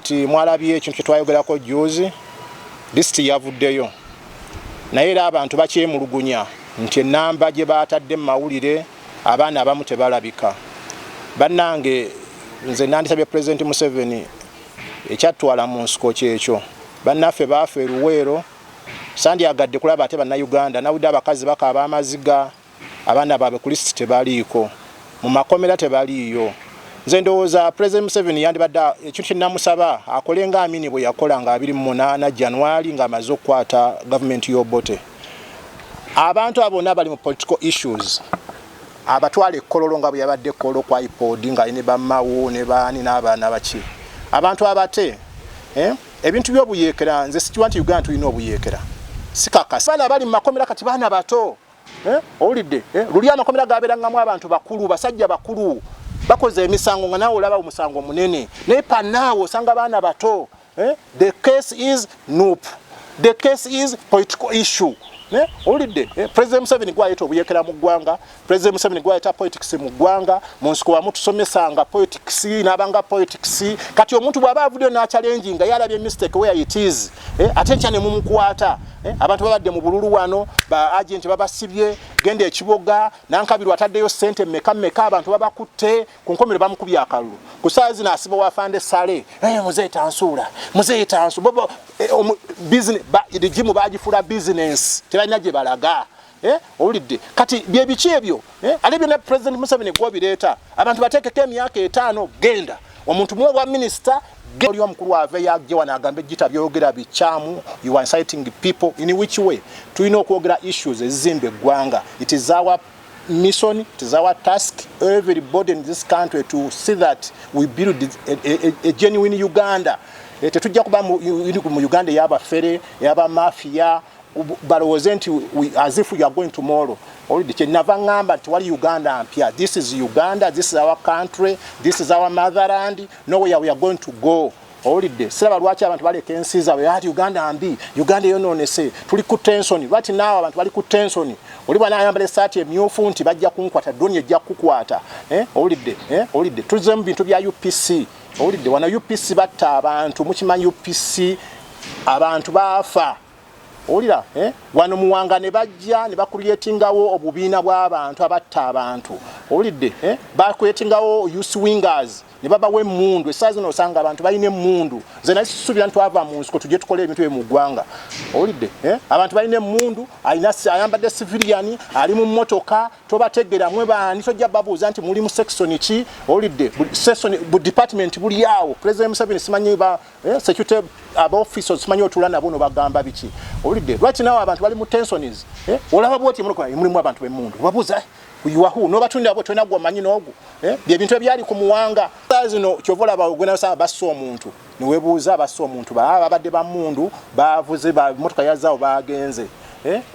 nti mwalabye ekintu kyetwayogerako juuzi lisiti yavuddeyo naye era abantu bakyemulugunya nti enamba gye baatadde mu mawulire abaana abamu tebalabika bannange nze nandisabye pulezidenti museveni ekyattwala mu nsiko kyekyo bannaffe baafa eruweero sandyagadde kulaba ate bannayuganda nawudde abakazi bakaaba amaziga abaana baabwe ku lisiti tebaliiko mu makomera tebaliiyo nze ndowooza president museveni yandibadde ekintu kyenamusaba akole nga amini bwe yakola nga 28 january ng'amaze okukwata gavumenti y'obote abantu abo bonna bali mu political issues abatwala ekkololo nga bwe yabadde ekkololo kwa ipod nga ne bamawo ne baani n'abaana baki abantu abate eh, ebintu by'obuyeekera nze sikiwa nti uganda tulina obuyeekera sikakasi baana bali mu makomera kati baana bato Eh, owulidde eh, luli amakomera gabeerangamu abantu bakulu basajja bakulu bakoze emisango nga naawe olaba omusango munene naye panaawe osanga baana bato eh, the case is nup the case is political issue owulidde president museveni gwayeta obuyekera mu ggwanga president museveni gwayeta politics mu ggwanga mu nsiko wamu tusomesanga politics n'abanga politics kati omuntu bw'aba avuddeyo n'akyalengi nga yalabye mistake where it is eh, ate nkya ne mumukwata eh, abantu babadde mu bululu wano ba agenti babasibye genda ekiboga nankabirwa ataddeyo sente meka meka abantu babakutte ku nkomero bamukubye akalulu ku saa zino asiba wafande sale eh, muzeeyi tansuula muzeeyi tansu bobo eh, rigimu bagifuula bizinensi tebalina gye balaga Eh, owulidde kati byebiki ebyo eh, ate byonna president museveni gwobireeta abantu bateekeko emyaka etaano genda omuntu muwe bwa minisita oli omukulu aveyo ajje wano agambe gita byogera bikyamu you are inciting people in which way tulina okwogera issues ezizimba eggwanga it is our mission it is our task everybody in this country to see that we build a, a, a, a genuine uganda eh, tetujja kuba mu uganda eyabafere eyabamafiya balowooze nti as if you are going tomorrow oludde kyenava ŋŋamba nti wali uganda mpya this is uganda this is our country this is our motherland nowhere we are going to go owulidde siraba lwaki abantu baleka ensi zaabwe ati uganda mbi uganda eyonoonese tuli ku tensoni lwati naawe abantu bali ku tensoni oli bwana ayambala esaati emyufu nti bajja kunkwata doni ejja kukukwata eh, owulidde eh, owulidde tuzemu bintu bya upc owulidde wana upc batta abantu mukimanyi upc abantu baafa owulira eh? wano muwanga ne bajja ne bakuyetingawo obubiina bw'abantu abatta abantu owulidde eh? bakuyetingawo uswingers ne babawa emmundu esaa zino osanga abantu balina emmundu nze naye sisuubira nti twava mu nsiko tujje tukole ebintu bye mu ggwanga owulidde eh? abantu balina emmundu alina ayambadde siviliyani ali mu mmotoka tobategeera mwe baani tojja babuuza nti muli mu sekisoni ki owulidde sekisoni bu department buli awo pulezidenti museveni simanyi Eh, security aba officers simanyi otula nabo no bagamba biki owulidde lwaki nawe abantu bali mu tensions eh, olaba bwoti mulokola mulimu abantu bemundu obabuuza yuwahu nobatunda abo tolina gwamanyi noogu eh, byebintu ebyali ku muwanga zino kyova olaba ogwenasaba bassa omuntu newebuuza bassa omuntu baa babadde bamundu bavuze bamotoka yazaawo bagenze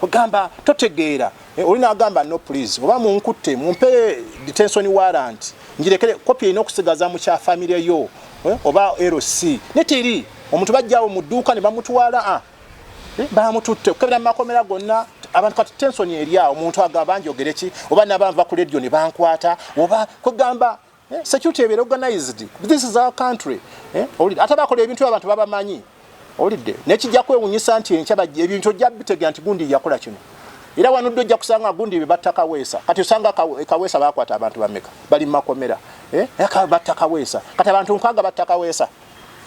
ogamba totegeera Eh, oli nagamba no please oba munkutte mumpe detention warrant njirekere kopi erina okusigaza mu kya famire yo eh, oba lc neteri omuntu bajjawo mu dduuka ne bamutwala a ah, eh, bamututte okukebera mu makomera gonna abantu kati tensoni eryawo omuntu agaba njogereki oba nabanva ku ledio ne bankwata oba kwegamba eh, security ebeera organized this is our country eh, olidde ate bakola ebintu abantu babamanyi olidde nekijja kwewunyisa nti enkya bajja ebintu ojja bitegera nti gundi yakola kino era wanudde ojja kusanga gundi bye batta kaweesa kati osanga eh, kaweesa bakwata abantu bameka bali mu makomera eh, batta kaweesa kati abantu nkwaga batta kaweesa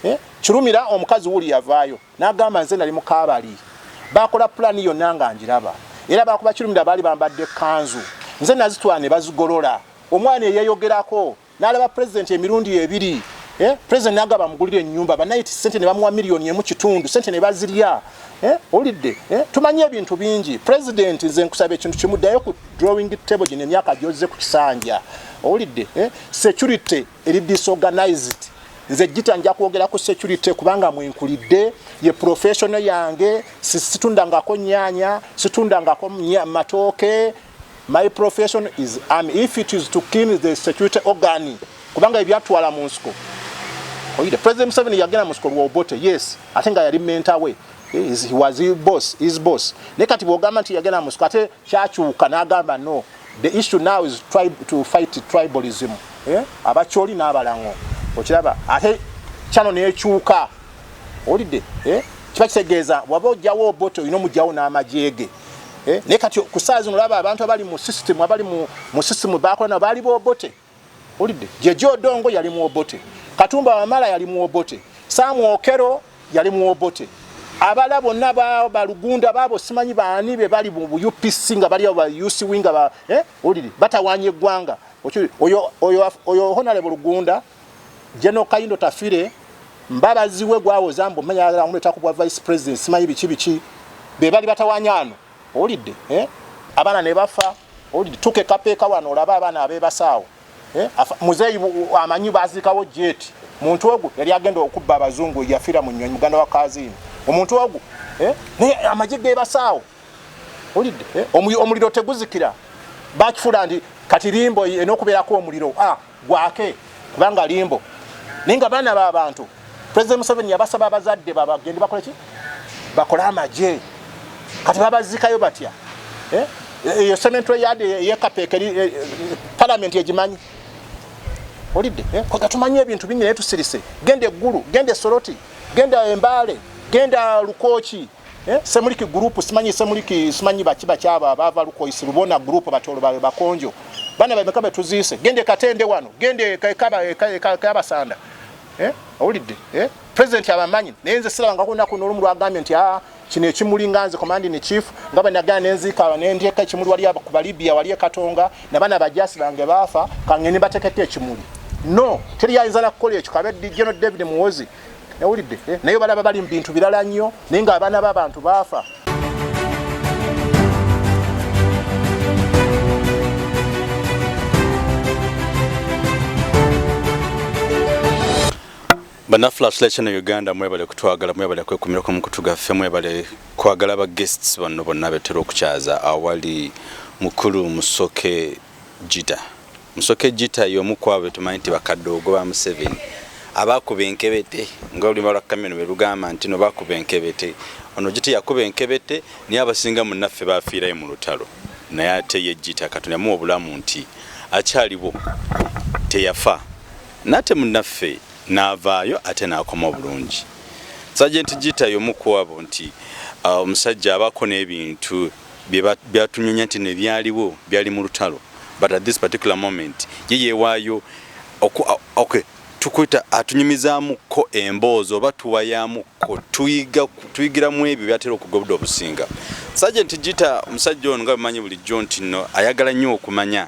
eh, kirumira omukazi wuli yavaayo n'agamba nze nali mukaabali bakola pulaani yonna nga ngiraba era bakuba kirumira baali bambadde ekkanzu nze nazitwala ne bazigolola Omwana eyayogerako n'alaba pulezidenti emirundi ebiri eh, pulezidenti n'agamba amugulire ennyumba banayiti ssente ne bamuwa miliyoni emu kitundu ssente ne bazirya eh, olidde eh, tumanyi ebintu bingi pulezidenti nze nkusaba ekintu kimu ddayo ku drawing table gino emyaka gyozze ku kisanja owulidde eh, security eri disorganized nze jita nja kwogera ku security kubanga mwenkulidde ye professional yange situndangako nyanya situndangako matooke My profession is army if it is to clean the security organ kubanga ebyatwala mu nsiko oyide president Museveni yagenda mu nsiko lwa Obote yes ate nga yali mentor we is he was his boss his boss ne kati bwogamba nti yagenda mu nsiko ate kyakyuka n'agamba no the issue now is try to fight tribalism eh? abakyoli n'abalango okiraba ate kyano nekyuka olidde eh? kiba kitegeeza waba ojjawo Obote olina omugyawo n'amajeege eh ne kati kusaazi nolaba abantu abali mu system abali mu mu system bakola na bali bo bote ulide jejo dongo yali mu obote katumba wa mala yali mu obote samu okero yali mu obote abala bonna ba balugunda babo simanyi baani be bali mu UPC nga bali aba UC winga ba eh ulide batawanye gwanga oyo oyo oyo honale bulugunda General Kayindo Tafire mbabazi we gwawoza mbu menya yagala kumuleta ku bwa vice president simanyi biki biki be bali batawanyano owulidde eh? abaana ne bafa owulidde tukekapeeka wano olaba abaana abebasaawo eh? muzeeyi amanyi baziikawo jeti muntu ogu yali agenda okubba abazungu yafira mu nyonyi muganda wa kazini omuntu ogu eh? naye amagye gebasaawo owulidde eh? omuliro teguzikira bakifula ndi kati limbo enokubeerako omuliro ah. gwake kubanga limbo naye nga baana ba bantu president museveni yabasaba abazadde babagende bakole ki bakole amagye kati babazikayo batya eh? eyo sementary yard yekapeeka eh, eh, palamenti egimanyi olidde kwega tumanyi ebintu bingi naye tusirise genda eggulu genda esoroti genda embaale genda lukooki Eh, semuliki group simanyi semuliki simanyi baki baki aba bava lukoisi lubona group batolo bawe bakonjo bana bawe mekabe tuziise gende katende wano gende kaba kaba kaba sanda eh awulidde eh president abamanyi naye nze siraba nga kuna kuno olumu lwagambye nti ah kino ekimuli nga nze command in chief nga banagana nenzika aba nendyeka ekimuli wali aba kuba libya wali ekatonga nabana bajasi bange baafa kangeni batekete ekimuli no teri yayinza nakukola ekyo kabe dijeno david muwozi yawulidde eh, naye balaba bali mu bintu birala nnyo naye ng'abaana b'abantu baafa banafulashilation uganda mwebale kutwagala mwebale kwekumirako mukutu gaffe mwebale kwagala ba guests banno bonna betera okukyaza awali mukulu musoke jida Musoke Gita y'omu ku abo be tumanyi nti bakadoogo ba Museveni abaakuba enkebete nga olulimi lwa Kameno bwe lugamba nti no baakuba enkebete. Ono Gita yakuba enkebete naye abasinga munnaffe baafiirayo mu lutalo naye ate ye Gita Katonda yamuwa obulamu nti akyaliwo teyafa n'ate munnaffe n'avaayo ate n'akoma obulungi. Sajenti Gita y'omu ku abo nti omusajja abaako n'ebintu. byatunyunya nti nebyaliwo byali mu lutalo but at this particular moment ye yewaayo okay tukwita atunyumizamukko emboozi oba tuwayamukko tuyigiramu ebyo byatera okugobda obusinga sajenti gita omusajja ono nga bimanyi bulijjo nti no ayagala nnyo okumanya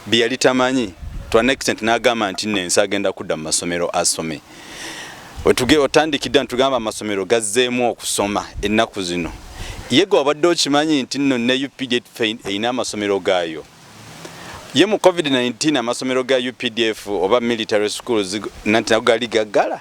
bye yali tamanyi to an extent n'agamba nti nno ensi agenda kudda mu masomero asome wetuge otandikidde ntugamba amasomero gazzeemu okusoma ennaku zino yega wabadde okimanyi nti nno ne updf erina amasomero gaayo ye mu covid-19 amasomero ga updf oba military schools nanti nago gali gaggala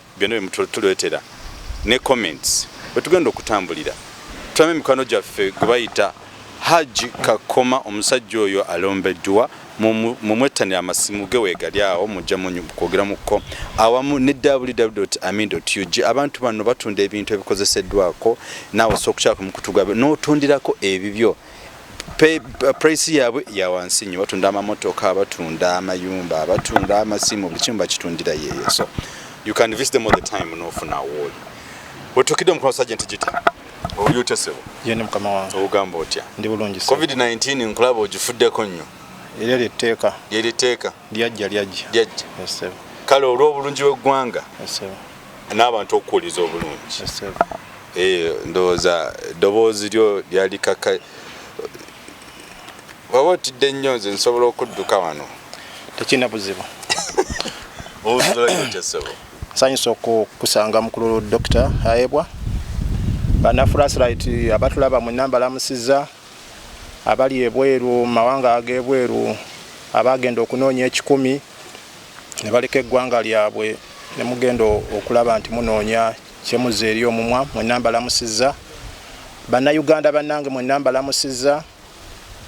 Byonna bye mutuleetera ne comments we tugenda okutambulira tulabe mikwano gyaffe gwe bayita Hajji Kakoma omusajja oyo alombeddwa mumwettanira amasimu ge weegali awo mujja kwogeramuko awamu ne www.amin.ug abantu bano batunda ebintu ebikozeseddwako naawe osobola okukyala ku mukutu gwabwe n'otundirako ebibyo. purayisi uh, yaabwe ya wansi nnyo batunda amamotoka batunda amayumba batunda amasimu buli kimu bakitundira yeeyo so you can visit them all the time n'ofuna awooli wetukidde omukono sajja nti gita oli otya sebo yeni mukama wange ogamba otya ndi bulungi covid 19 nkulaba ogifuddeko nnyo eryo lyetteeka lyeriteeka lyajja lyajja lyajja kale olw'obulungi bw'eggwanga n'abantu okukuwuliza obulungi eh, ndowooza eddoboozi lyo lyali kaka waba otidde nnyo nze nsobola okudduka wano tekirina buzibu nsanyusa okukusanga mukulu dokita ayebwa banafurasirayiti abatulaba mwena mbalamusiza abali ebweru mu mawanga ag'ebweru abaagenda okunoonya ekikumi ne baleka eggwanga lyabwe ne mugenda okulaba nti munoonya kyemuzza eri omumwa mwenna mbalamusizza bannayuganda bannange mwenna mbalamusizza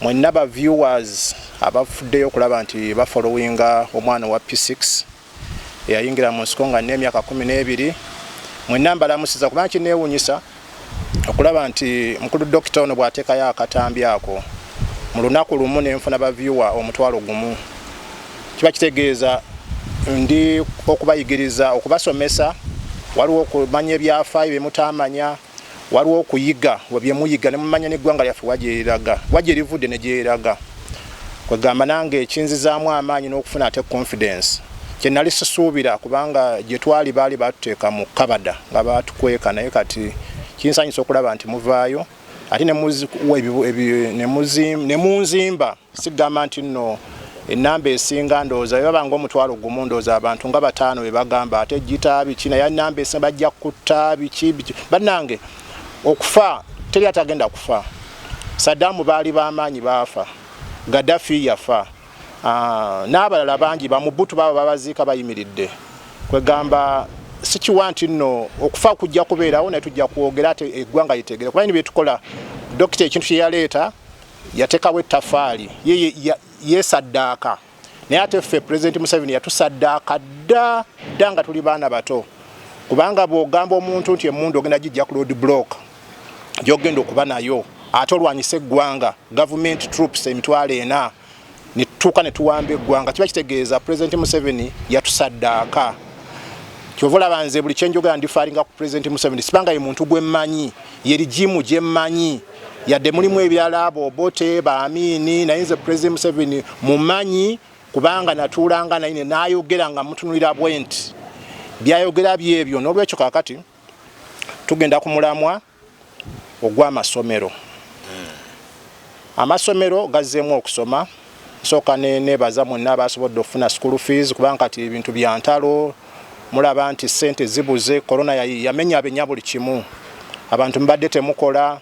mwenna ba viewers abafuddeyo okulaba nti bafolowinga omwana owa p6 eyayingira mu nsiko nga n'emyaka kumi n'ebiri mwenna mbalamusiza kubanga kineewunyisa okulaba nti mukulu dokita ono bw'ateekayo akatambi ako mu lunaku lumu ne nfuna bavyuwa omutwalo gumu kiba kitegeeza ndi okubayigiriza okubasomesa waliwo okumanya ebyafaayo bye mutaamanya waliwo okuyiga bye muyiga ne mumanya n'eggwanga lyaffe wagyeriraga wagye rivudde ne gyeriraga kwegamba nange ekinzizaamu amaanyi n'okufuna ate confidence kye nali sisuubira kubanga gye twali baali batuteeka mu kabada nga baatukweka naye kati kinsanyusa okulaba nti muvaayo ate ne munzimba sigamba nti nno enamba esinga ndowooza bebaba nga omutwalo gumu ndowooza abantu nga bataano bebagamba ate gita biki naye enamba esinga bajja kutta biki biki bannange okufa teri atagenda kufa sadaamu baali bamaanyi baafa gadafi yafa Ah, n'abalala bangi bamubutu baba babaziika bayimiridde kwegamba sikiwa nti nno okufa kujja kubeerawo naye tujja kwogera ate eggwanga litegere kuba ni byetukola dokita ekintu kyeyaleeta yatekawo ettafaali yesaddaaka naye ate ffe pulezidenti museveni yatusaddaaka dda dda nga tuli baana bato kubanga bw'ogamba omuntu nti emundu ogenda gijja ku load block gyogenda okuba nayo ate olwanyisa eggwanga government troops emitwalo ena netutuuka netuwamba eggwanga kiba kitegeeza president museveni yatusaddaaka kyova olaba nze buli kyenjogera ndifaalinga ku president museveni sibanga ye muntu gwemmanyi ye rigimu gyemmanyi yadde mulimu ebirala abo obote baamiini naye nze president museveni mumanyi kubanga natuulanga naye nayogera nga mutunulira bwenti byayogera byebyo n'olwekyo kakati tugenda ku mulamwa ogw'amasomero hmm. amasomero gazzeemu okusoma nsooka nebaza mwenna abasobodde okufuna school fees kubanga kati ebintu bya ntalo mulaba nti sente zibuze korona yamenya abenya buli kimu abantu mubadde temukola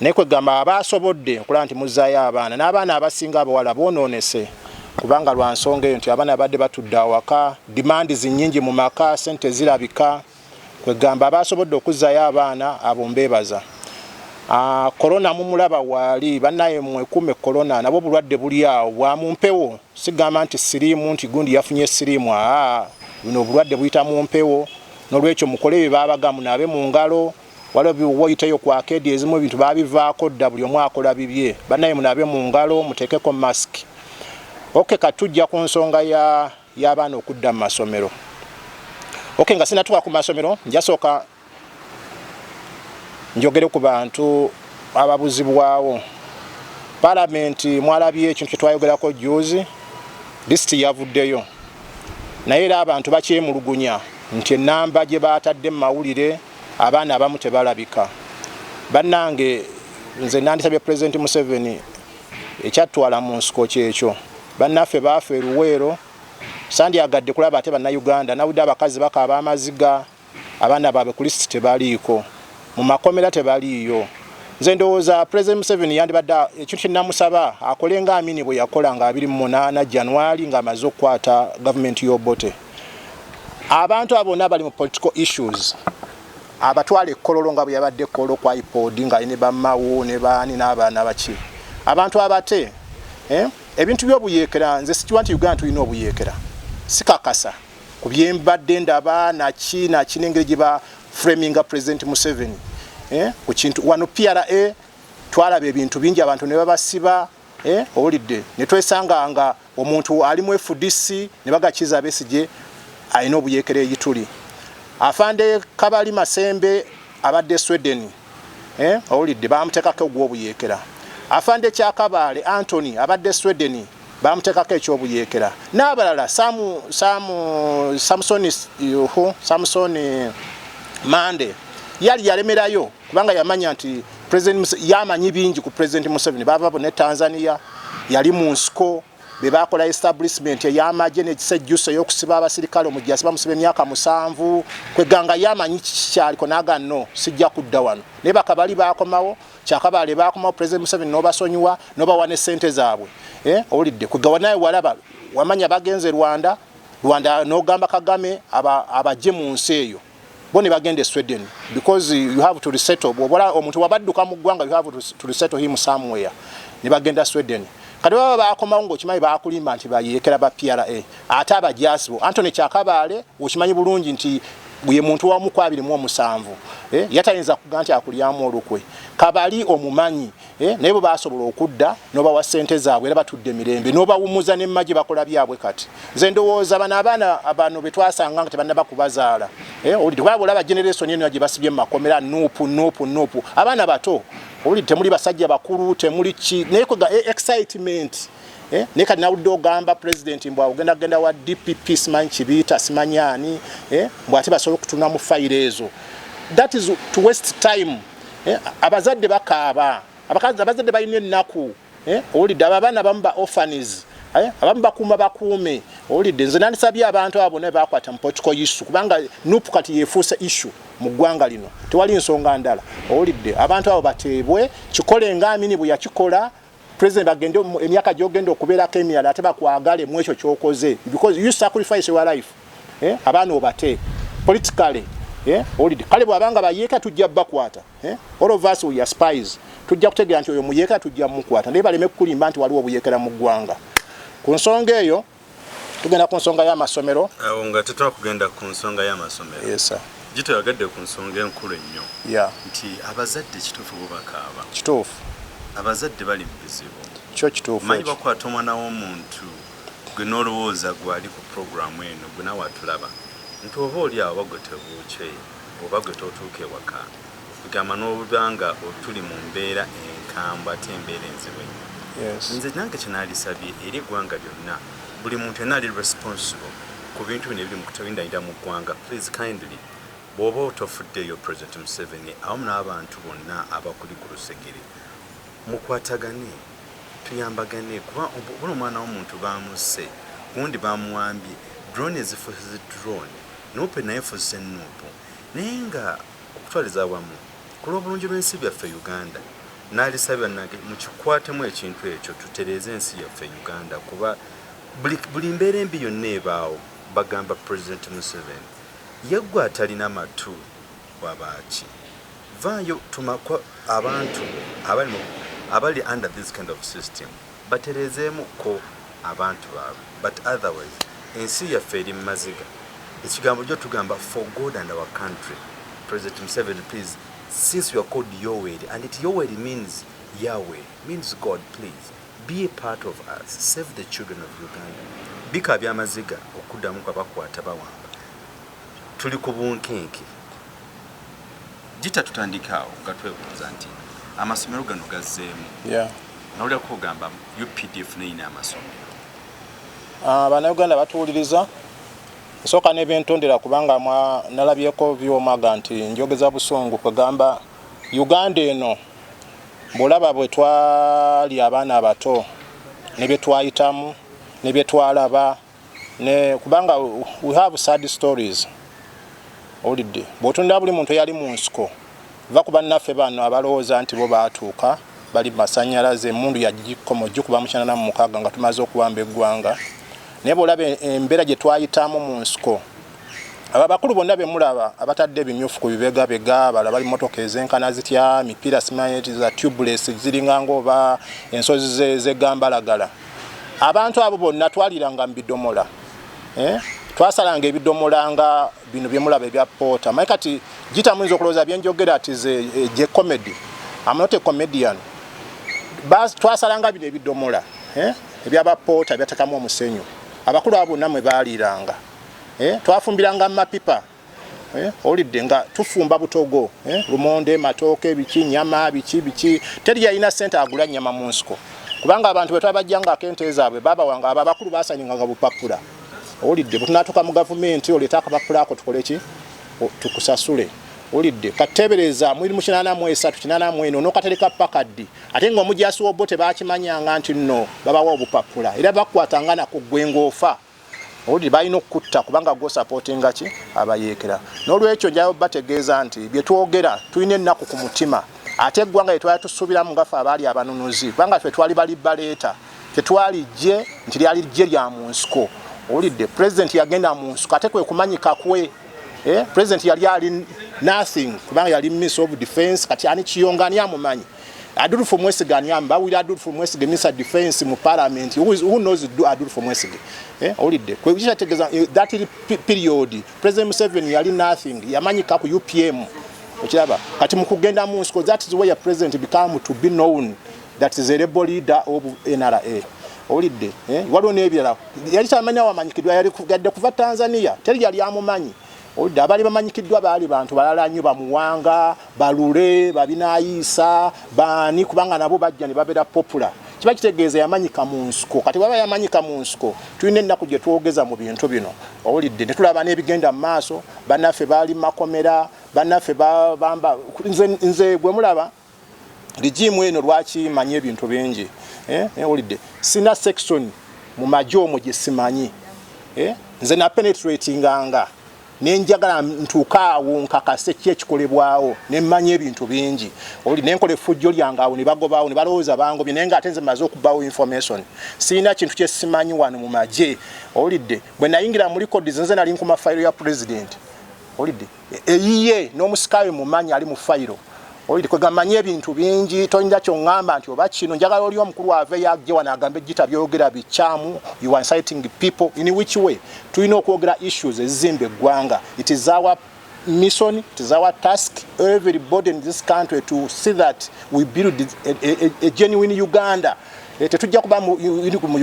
naye kwegamba aba asobodde okulaba nti muzzaayo abaana n'abaana abasinga abawala boonoonese kubanga lwa nsonga eyo nti abaana abadde batudde awaka dimandi zinyingi mu maka sente zirabika kwegamba aba asobodde okuzzaayo abaana abo mbeebaza korona ah, mumulaba waali banaye mwekume korona nabwo bulwadde buli awo bwa mu mpewo sigamba nti siriimu nti gundi yafunye siriimu aa ah, buno obulwadde buyita mu mpewo nolwekyo mukole bye baabagamu naabe mu ngalo waliwo biwoyiteyo ku akeedi ezimu ebintu babivaako dda buli omu akola bibye banaye munabe mu ngalo muteekeko mask oke okay, katujja ku nsonga y'abaana ya okudda mu masomero oke okay, nga sinatuka ku masomero njasooka njogere ku bantu ababuzibwawo palamenti mwalabye ekintu kyetwayogerako juzi disiti yavuddeyo naye era abantu bakyemulugunya nti enamba gye batadde mu mawulire Abaana abamu tebalabika banange nze nandisabye president Museveni ekyatwala mu nsiko kyekyo bannaffe baafa eruweero sandyagadde kulaba ate bannayuganda nawudde abakazi bakaaba amaziga abaana baabwe ku lisiti tebaliiko mu makomera tebaliiyo nze ndowooza president Museveni yandibadde ekintu kyenamusaba akole nga amini bwe yakola nga abiri mu munaana January ng'amaze okukwata gavumenti y'Obote abantu abo bona bali mu political issues abatwala ekkololo nga bwe yabadde ekkololo kwa ipod nga ne bamawo ne baani n'abaana baki abantu abate eh, ebintu by'obuyeekera nze sikiwa nti uganda tulina obuyeekera sikakasa ku byembadde ndaba naki naki n'engeri gye ba framinga president museveni eh, ku kintu wano pra twalaba ebintu bingi abantu ne babasiba eh owulidde ne twesanga nga omuntu ali mu FDC ne bagakiza abesije alina obuyekere yituli afande kabali masembe abadde Sweden eh owulidde bamutekako ogwobuyekera afande kyakabaale Anthony abadde Sweden bamutekako ekyobuyekera n'abalala samu samu Samson yuhu Samson Mande yali yalemerayo kubanga yamanya nti president yamanyi bingi ku president Museveni bava ne Tanzania yali mu nsiko be bakola establishment ey'amagye n'ekisejjusa ey'okusiba abasirikale omujjasi bamusiba emyaka musanvu kweganga yamanyi kikikyaliko naga no sijja kudda wano naye bakabali bakomawo kyakabaale bakomawo president Museveni n'obasonyiwa n'obawa ne ssente zaabwe eh, owulidde kwegawa naye walaba wamanya bagenze Rwanda Rwanda n'ogamba Kagame abajje mu nsi eyo bo ne bagenda e Sweden because you have to resettle bwobola omuntu wabadduka mu ggwanga you have to resettle him somewhere ne bagenda Sweden kati baba bakomawo ngaokimanyi bakulimba nti bayeekera ba pra ate abajaasi bo antony kyakabaale okimanyi bulungi nti ye muntu wamu kwabiri mu omusanvu eh, yatayinza kuga nti akulyamu olukwe kabali omumanyi Eh, naye bwe basobola okudda nobawa sente zaabwe era batudde mirembe nobawumuza nemma gye bakola byabwe kati nze ndowooza bano abaana abano betwasanga nga tebanaba kubazaala eh, owulidde kubaba olaba generesoni eno gye basibye mumakomera nupu nupu nupu abaana bato owulidde temuli basajja bakulu temuli ki naye kwega eh, excitement Eh, naye kati nawudde ogamba pulezidenti mbw ogenda kugenda wa dpp simanyi kibiita simanyi ani eh, mbw ate basobola okutuna mu fayiro ezo that is to waste time eh, abazadde bakaaba abakazi abazadde balina ennaku eh, owulidde abo abaana abamu ba orphanies eh, abamu bakuuma bakuume owulidde nze nandisabye abantu abo bona bakwata mu political issue kubanga nup kati yefuuse issue mu ggwanga lino tewali nsonga ndala owulidde abantu abo bateebwe kikole nga amini bwe yakikola president agende emyaka gyogenda okubeerako emirala ate bakwagale mu ekyo kyokoze because you sacrifice your life eh? abaana obate politically eh? olid kale bwabanga bayeeka tujja bakwata eh? all of us we are spies tujja kutegeera nti oyo muyeeka tujja mukwata naye baleme kukulimba nti waliwo obuyekera mu ggwanga ku nsonga eyo tugenda ku nsonga y'amasomero awo nga tetwakugenda ku nsonga y'amasomero yes, gitoyagadde ku nsonga enkulu ennyo yeah. nti abazadde kituufu bubakaaba kituufu abazadde bali mu bizibu kyo kituufu manyi bakwata omwana w'omuntu gwe n'olowooza gwali ku puroguramu eno gwe nawe atulaba nti oba oli awo bagwe tebuukye oba gwe totuuka ewaka Kwegamba noba nga tuli mumbera enkambwe ate embera enzibu enyo nze nange kyenalisabye eri egwanga lyona buli muntu yena ali responsible kubintu bino ebiri mukutawindanira mugwanga please kindly bwoba otofudde yo president museveni awamu nabantu bona abakuli kulusegere mukwatagane tuyambagane kuba bona omwana womuntu bamusse gundi bamuwambye drone ezifuse drone nupe naye efuse nupu naye nga okutwaliza awamu ku lw'obulungi lw'ensi byaffe Uganda n'alisa bannage mukikwatemu ekintu ekyo tutereeze ensi yaffe Uganda kuba buli mbeera embi yonna ebaawo bagamba president Museveni ye gwe atalina matu wabaaki vaayo tumakwa abantu abali mu abali under this kind of system. Baterezeemu ko abantu babwe but otherwise ensi yaffe eri mumaziga ekigambo jo tugamba for God and our country president museveni please since your called yoweri and it yoweri means yawe means God please be a part of us save the children of Uganda bika byamaziga okudamu kwa bakwata bawamba tuli ku bunkenke gita tutandika awo nga twebuuza nti amasomero gano gazzeemu nawulira kugamba updf neyina amasomero ah, banauganda batuwuliriza nsooka nebyentondera kubanga nalabyeko byomaga nti njogeza busungu kwegamba uganda eno bwolaba bwe twali abaana abato nebyetwayitamu nebyetwalaba ne kubanga we have sad stories olidde bwotunda buli muntu eyali mu nsiko va ku bannaffe bano abalowooza nti bo baatuuka bali masanyalaze emundu yagikoma ogikuba mukyana na mumukaaga nga tumaze okuwamba eggwanga naye bwolaba e-, embeera gye twayitamu mu nsiko abo abakulu bonna bemulaba abatadde ebimyufu ku bibegabega bala bali motoka ezenkana zitya mipiira simanyi za tubuless ziringanga oba ensozi zegambalagala ze abantu abo bonna twaliranga mu bidomola eh? twasalanga ebidomola nga bino byemulaba ebya poota maye kati gita muyinza okulowooza byenjogera ati eh, gye comedy amnote comedian twasalanga bino ebidomola eh? ebyabapoota byatekamu omusenyu abakulu abo bonna mwe baaliranga eh? twafumbiranga mu mapipa Eh, olidde nga tufumba butogo eh, lumonde matooke biki nyama biki biki teri yalina sente agula nyama mu nsiko kubanga abantu bwe twabajjanga akente zaabwe babawanga abo abakulu basanyinganga bupapula olidde bwetunatuuka mu gavumenti oleeta akapapula ako tukole ki tukusasule olidde kateebereza mwiri mu kinaana mu esatu kinaana mu eno nokatereka paka ddi ate nga omujasi wobwo tebakimanyanga nti nno babawa obupapula era bakwatanga nakuggwe ngaofa owulire balina okukutta kubanga gwo sapotinga ki abayeekera n'olwekyo njayo bategeeza nti bye twogera tulina ennaku ku mutima ate eggwanga lye twali tusuubiramu nga fe abaali abanunuzi kubanga fe twali bali baleeta tetwali ggye nti lyali ggye lya mu nsiko owulidde pulezidenti yagenda mu nsiko ate kwe kumanyika kwe eh, pulezidenti yali ali nothing kubanga yali miss of defense kati ani kiyonga ani amumanyi Adolfo Mwesige ani amba wili Adolfo Mwesige Mr Defense mu parliament who, is, who knows do Adolfo Mwesige eh olide kwe kija tegeza eh, that period President Museveni yali nothing yamanyi ka ku UPM okiraba kati mu kugenda mu nsi that is where president become to be known that is a rebel leader of NRA olide eh waliwo nebirala yali tamanya wamanyikidwa yali kugadde kuva Tanzania teri yali amumanyi Odda abali bamanyikiddwa baali bantu balala nnyo, Bamuwanga, Balule, Babinaayiisa, baani kubanga nabo bajja ne babeera popula. Kiba kitegeeza yamanyika mu nsiko. Kati bwaba yamanyika mu nsiko, tulina ennaku gye twogeza mu bintu bino, owulidde, ne tulaba n'ebigenda mu maaso, bannaffe baali mu makomera, bannaffe bamba, nze, nze gwe mulaba, Regime eno lwaki manyi ebintu bingi eh, eh olide sina section mu maji omo gye simanyi eh nze na penetrate nganga ne njagala ntuka awo nkakase ki ekikolebwawo ne manyi ebintu bingi oli ne nkole fujjo lyanga awo ne bagobawo ne balowoza bango bine nga atenze mazo kubawo information sina kintu kye simanyi wano mu maji olide bwe nayingira muri code zenze nali nkuma file ya president olide eyiye n'omusika we mumanyi ali mu fayiro oyo kwegamba manyi ebintu bingi toyinza kyoŋŋamba nti oba kino njagala oli omukulu aveyo ajje wano agambe ejjita byogera bikyamu you are inciting people in which way tulina okwogera issues ezizimba eggwanga it is our mission it is our task everybody in this country to see that we build a, a, a, a genuine uganda eh, tetujja kuba mu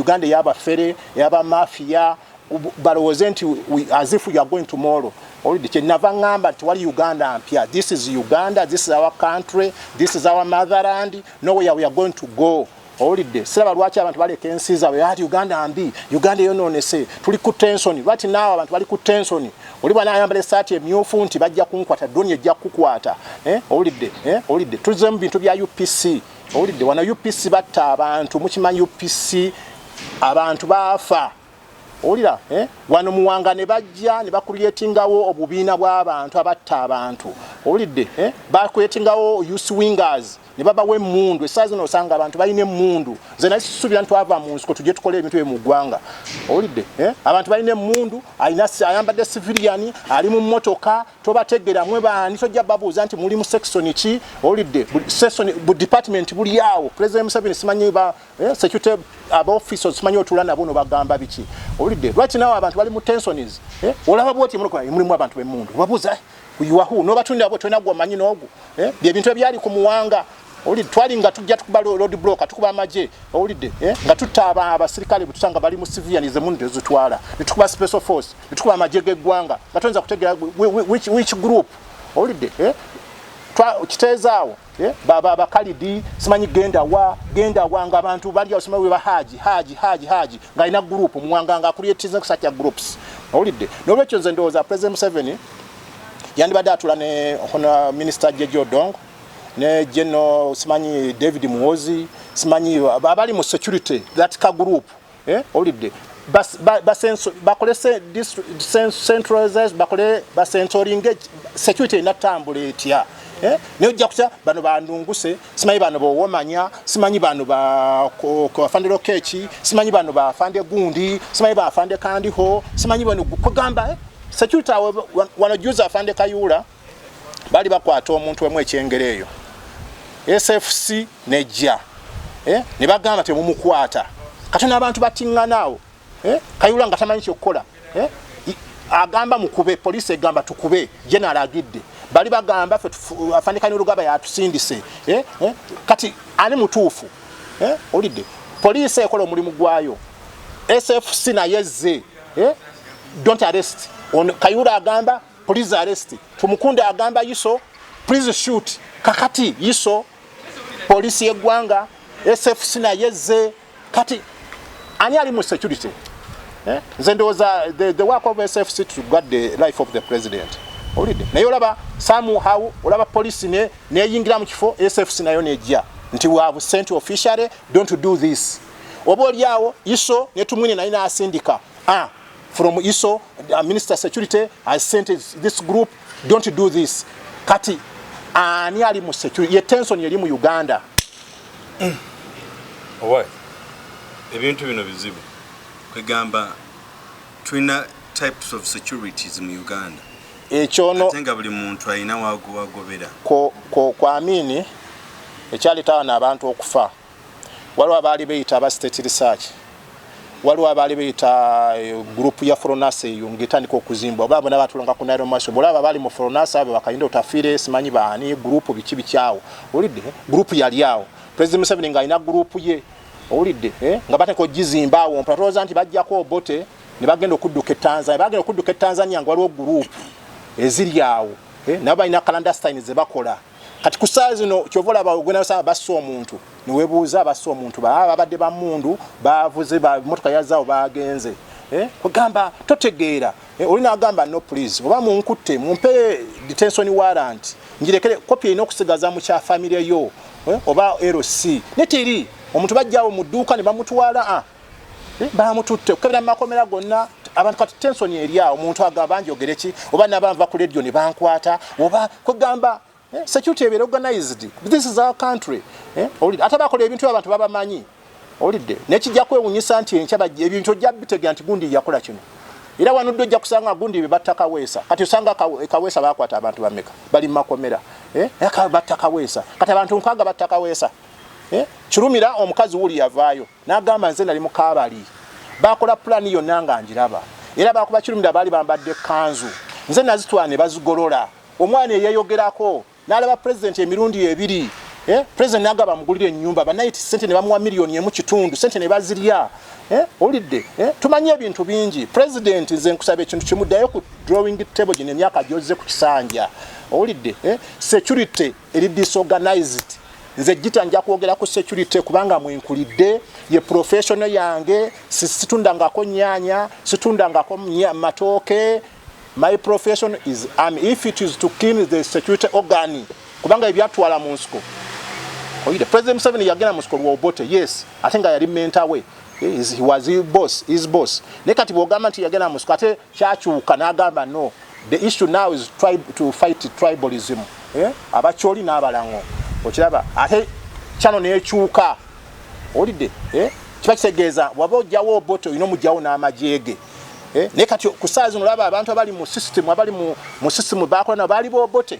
uganda eyabafere eyabamafiya balowooze nti as if you are going tomorrow oludde kyenava ŋŋamba nti wali uganda mpya this is uganda this is our country this is our motherland nowhere we are going to go owulidde siraba lwaki abantu baleka ensi zaabwe ati uganda mbi uganda eyonoonese tuli ku tensoni lwati naawe abantu bali ku tensoni oli bwana ayambala esaati emyufu nti bajja kunkwata doni ejja kukukwata eh, owulidde eh, owulidde tuzemu bintu bya upc owulidde wana upc batta abantu mukimanyi upc abantu baafa Owulira eh? wano muwanga ne bajja ne bakuliyetingawo obubiina bw'abantu abatta abantu owulidde eh? bakuyetingawo use wingers ne babawa emmundu essaa zino osanga abantu balina emmundu nze naye sisuubira ntwava mu nsiko tujje tukole ebintu bye mu ggwanga owulidde eh? abantu balina emmundu alina ayambadde siviliyani ali mu mmotoka tobategeera mwe baani tojja babuuza nti muli mu sekisoni ki owulidde sekisoni bu dipatimenti buli awo pulezidenti museveni simanyi Eh, security aba officers simanyi otula nabo no bagamba biki owulidde lwaki nawe abantu bali mu tensions eh, olaba bwoti mulokola mulimu abantu bemundu obabuuza yuwahu nobatunda abo tolina gwamanyi noogu eh, byebintu ebyali ku muwanga owulidde twali nga tujja tukuba lod bloka tukuba amagye owulidde eh, nga tutta abasirikale bwetusanga bali mu civilian zemundu ezitwala netukuba special force netukuba amagye geggwanga nga toyinza kutegera which group owulidde eh, kiteezaawo Eh, baba abakalidi simanyi genda wa genda wa nga abantu bali osima we bahaji haji haji haji nga ina group mwanga nga create things such a groups olidde no wecho nze ndoza president Museveni yandi bada atula ne hona minister Jejo Dong ne General simanyi David Muozi simanyi babali mu security that ka group eh olidde bas basenso bakole se centralized bakole basensoring security na tambula etya eh ne ojja kutya bano bandunguse simanyi bano bo womanya simanyi bano ba ko afande lokechi simanyi bano ba afande gundi simanyi ba afande kandi ho simanyi bano kugamba eh security wanajuza afande kayula bali bakwata omuntu emu ekyengere eyo sfc nejja eh? ne bagamba temumukwata kati n'abantu bakiŋŋanaawo eh? kayula nga tamanyi kyokukola eh? agamba mukube poliisi egamba tukube genero agidde bali bagamba fe afanikani olugaba yatusindise eh? eh? kati ani mutuufu eh? olidde poliisi ekola omulimu gwayo sfc naye zze eh? don't arrest on kayura agamba Please arrest. Tumukunde agamba iso. Please shoot. Kakati iso. Polisi ye gwanga. SFC na yeze. Kati. Ani ali mu security. Eh? Zende was a, the, the work of SFC to guard the life of the president. Olide. Na yolaba samu hau. Olaba polisi ne. Ne yingira mkifo. SFC na yone jia. Nti we have sent officially. Don't do this. Obo liawo. Iso. Netumwini na ina asindika. Ah. from iso uh, minister security has sent this group don't do this kati ani ali mu security ye tension yeli mu uganda mm. owai ebintu bino bizibu kwegamba twina types of securities mu uganda ekyono atenga buli muntu alina wagobera ko, ko, kwa amini ekyaletawa n'abantu okufa waliwo abaali beyita aba state research waliwo abaali beyita eh, group ya fronasa eyo ngaetandika okuzimbwa oba bona batulanga ku nairo maso bolaba abaali mu fronasa abo bakayinda otafiire simanyi baani group biki bikyawo olidde group yali awo president museveni ngaalina group ye owulidde eh? nga bateka ogizimba awo mpa tolowooza nti bajjako obote ne bagenda okudduka etanzania bagenda okudduka etanzania nga waliwo guruupu eziri awo eh? nabo balina kalandastine ze bakola kati ku ssaawa zino kyova olaba ogenda osanga bassa omuntu newebuuza bassa omuntu baa babadde bamundu bavuze bamotoka yazaawo bagenze eh, ogamba totegeera eh, oli nagamba no please oba munkutte mumpe detention warrant njirekere kopi erina okusigaza mu kya famire yo eh, oba lc neteri omuntu bajjawo mu dduuka ne bamutwala ah, Eh, bamututte okukebera mu makomera gonna abantu kati tensoni eri awo omuntu agamba njogere ki oba nabanva ku ledio ne bankwata oba kwegamba eh, security ebeera organized this is our country eh, owulidde ate bakola ebintu abantu babamanyi owulidde naye kijja kwewunyisa nti enkya bajja ebintu ojja bitegera nti gundi yakola kino era wanudde ojja kusanga gundi be batta kaweesa kati osanga kaweesa bakwata abantu bameka bali mu makomera batta kaweesa kati abantu nkwaga batta kaweesa kirumira omukazi wuli yavaayo N'agamba, Nze nali mu kaabali. Baakola pulaani yonna nga ngiraba. Era baakuba kirumira baali bambadde kkanzu. Nze nazitwala ne bazigolola. Omwana eyeeyogerako, n'alaba Pulezidenti emirundi ebiri. Eh, Pulezidenti n'agamba amugulire ennyumba. Bannayiti ssente ne bamuwa miliyoni emu kitundu. Ssente ne bazirya. Eh, owulidde? Eh, tumanyi ebintu bingi. Pulezidenti, nze nkusaba ekintu kimu, ddayo ku drawing table gino emyaka gy'ozze ku kisanja. Owulidde? Eh, security. eri disorganized nze gita nja kwogera ku security kubanga mwenkulidde ye professional yange situndangako nyanya situndangako matooke my profession is am if it is to kill the security organ kubanga ebyatwala mu nsiko oyide president seven yagenda mu nsiko lwobote yes ate nga yali mentawe he was boss is boss naye kati bwogamba nti yagenda mu nsiko ate kyakyuka nagamba no the issue now is tribe to fight tribalism eh? abakyoli n'abalango okiraba ate kyano nekyuka olidde eh? kiba kitegeeza waba ojjawo obote olina omugyawo n'amajeege eh? naye kati ku saa zino olaba abantu abali mu system abali mu system bakola nabo baali bobote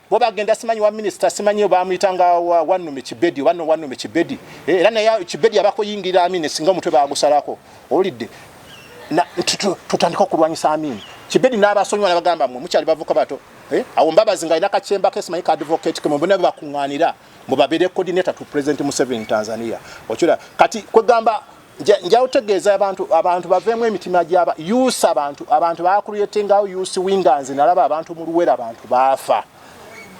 bo bagenda simanyi wa minisita simanyi bamuyitanga wanume kibedi oba nowanume kibedi eh, era naye kibedi abakuyingira amini singa omutwe bagusalako owulidde tutandika okulwanyisa amini kibedi n'abasonyiwa nabagamba mwe mukyali bavuka bato eh, awo mbabazi nga alina kakyemba ke simanyi ka advocate kemwe bona bebakuŋŋaanira mwe babeere coordinator to president museveni tanzania okira kati kwegamba nja utegeeza abantu abantu baveemu emitima gyaba us abantu abantu bakuruyetengawo us winganzi nalaba abantu mu luwera abantu baafa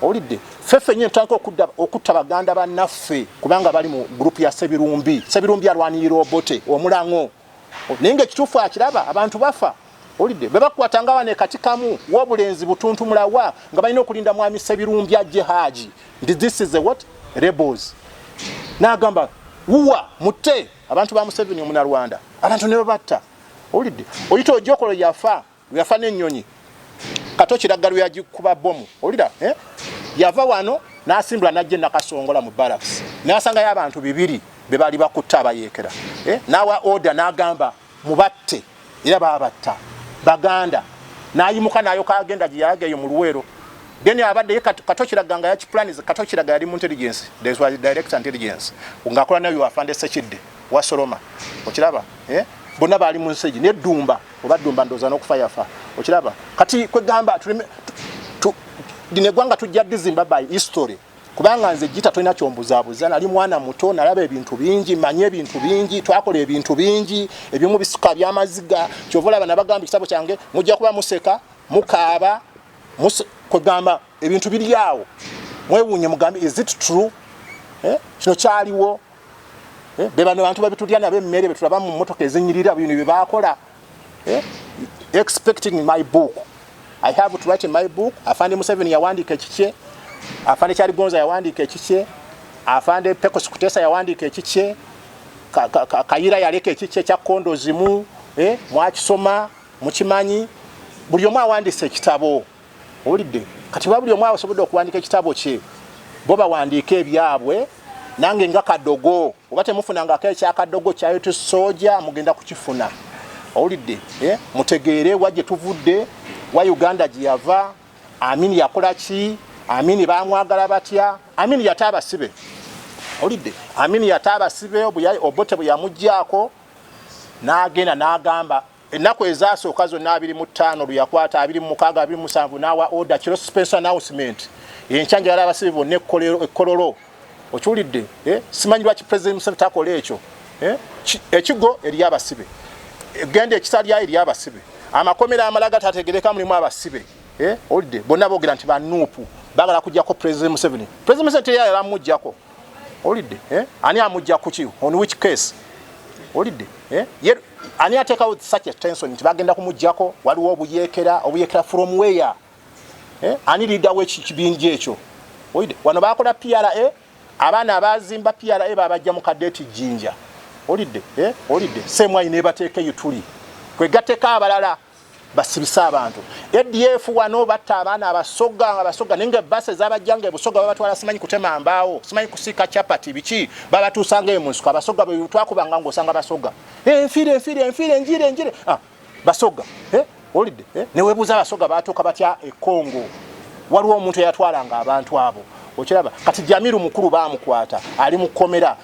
owulidde ffeffe nyo ntandika okutta baganda bannaffe kubanga bali mu gurupu ya sebirumbi sebirumbi alwanirira obote omulaŋo naye nga ekituufu akiraba abantu bafa Olidde bebakwata nga bane kati kamu wobulenzi butuntu mulawa nga balina okulinda mwami Sebirumbya je haji ndi this is a what rebels nagamba wuwa mutte abantu ba Museveni omuna Rwanda abantu ne babatta olidde oyita ojokolo yafa yafa ne nyonyi kato kiragalo ya jikuba bomu olida eh yava wano nasimbula najje nakasongola mu barracks nasanga ya abantu bibiri bebali bakutta abayekera eh nawa order nagamba mubatte era baabatta baganda n'ayimuka n'ayoka agenda gye yalaga eyo mu luweero then abadde ye kato kiraga nga yakipulanize kato kiraga yali mu intelligence this was direct intelligence ng'akola nayo afande sekidde wasoloma okiraba eh? bonna baali mu nsegi naye ddumba oba ddumba ndooza n'okufa yafa okiraba kati kwegamba lino eggwanga tujja dizimba by history kubanga nze jita tolina kyombuzabuza nali mwana muto nalaba ebintu bingi manye ebintu bingi twakola ebintu bingi ebimu bisuka byamaziga kyova olaba nabagamba ekitabo kyange mujja kuba museka mukaaba kwegamba ebintu biri awo mwewunye mugambe is it true eh, kino eh? kyaliwo eh? bebano bantu babitulya nabo emmere betulaba mu motoka ezinyirira bino byebakola eh? expecting my book i have to write my book afande museveni yawandiika ekikye afande kyaligonza yawandiika ekikye afande pekos kutesa yawandiika ekikye kayira yaleka ekikye ekya kondo zimu eh? mwakisoma mukimanyi buli omu awandiisa ekitabo owulidde kati ba buli omu asobodde okuwandika ekitabo kye bo bawandiika ebyabwe nange nga kadogo oba temufunangako ekyakadogo kyayoto soja mugenda kukifuna owulidde eh? mutegeere wa gye tuvudde wa uganda gye yava amini yakola ki amini bamwagala batya amini yata abasibe owulidde amini yata abasibe obote bwe yamuggyako n'agenda n'agamba ennaku ezaasooka zonna abiri mu ttaano lwe yakwata abiri mu mukaaga abiri musanvu n'awa oda kiro suspense announcement enkya njagala abasibe bonna ekkololo okiwulidde eh? simanyi lwaki president museveni takola ekyo eh? ekigo eri abasibe genda ekisalyayo eri abasibe amakomera amalaga tategereka mulimu abasibe eh? olidde bonna boogera nti banuupu bagala kujjako president museveni president museveni teyayala mujjako olidde eh? ani amujja kuki on which case olidde eh? ye ani atekawo such a tension nti bagenda kumujjako waliwo obuyekera obuyekera from where eh? ani leader we kibinja ekyo olidde wano bakola PRA abaana abazimba PRA babajja mu kadeti jinja olidde eh? olidde same way nebatekeyo tuli kwegateka abalala basibise abantu adf wano batta abaana abasoga nga basoga naye nga basi ezabajjanga ebusoga babatwala simanyi kutema mbaawo simanyi kusiika chapati biki babatuusanga eyo mu nsiko abasoga bwetwakubanga ngaosanga basoga eh, enfiire enfiire enfiire enjire enjire ah, basoga eh, olidde eh, newebuuza abasoga batuuka batya ekongo waliwo omuntu eyatwalanga abantu abo okiraba kati jamiru mukulu bamukwata ali mu kkomera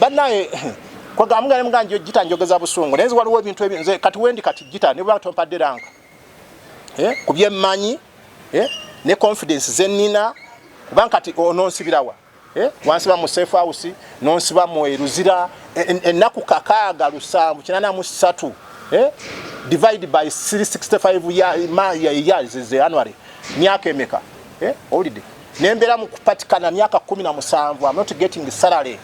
banaye kwegamba nga muganje jita njogeza busungu naye waliwo ebintu ebyo nze kati wendi kati jita ne bwa tompadde ranka eh kubye manyi eh ne confidence zenina kubanga kati ononsibirawa eh wansiba mu safe house nonsiba mu eruzira ennaku en, en kakaaga lusanvu kinana mu satu eh divide by 365 ya ma ya years is the annuary myaka emeka eh holiday nembera mukupatikana myaka 17 I'm not getting salary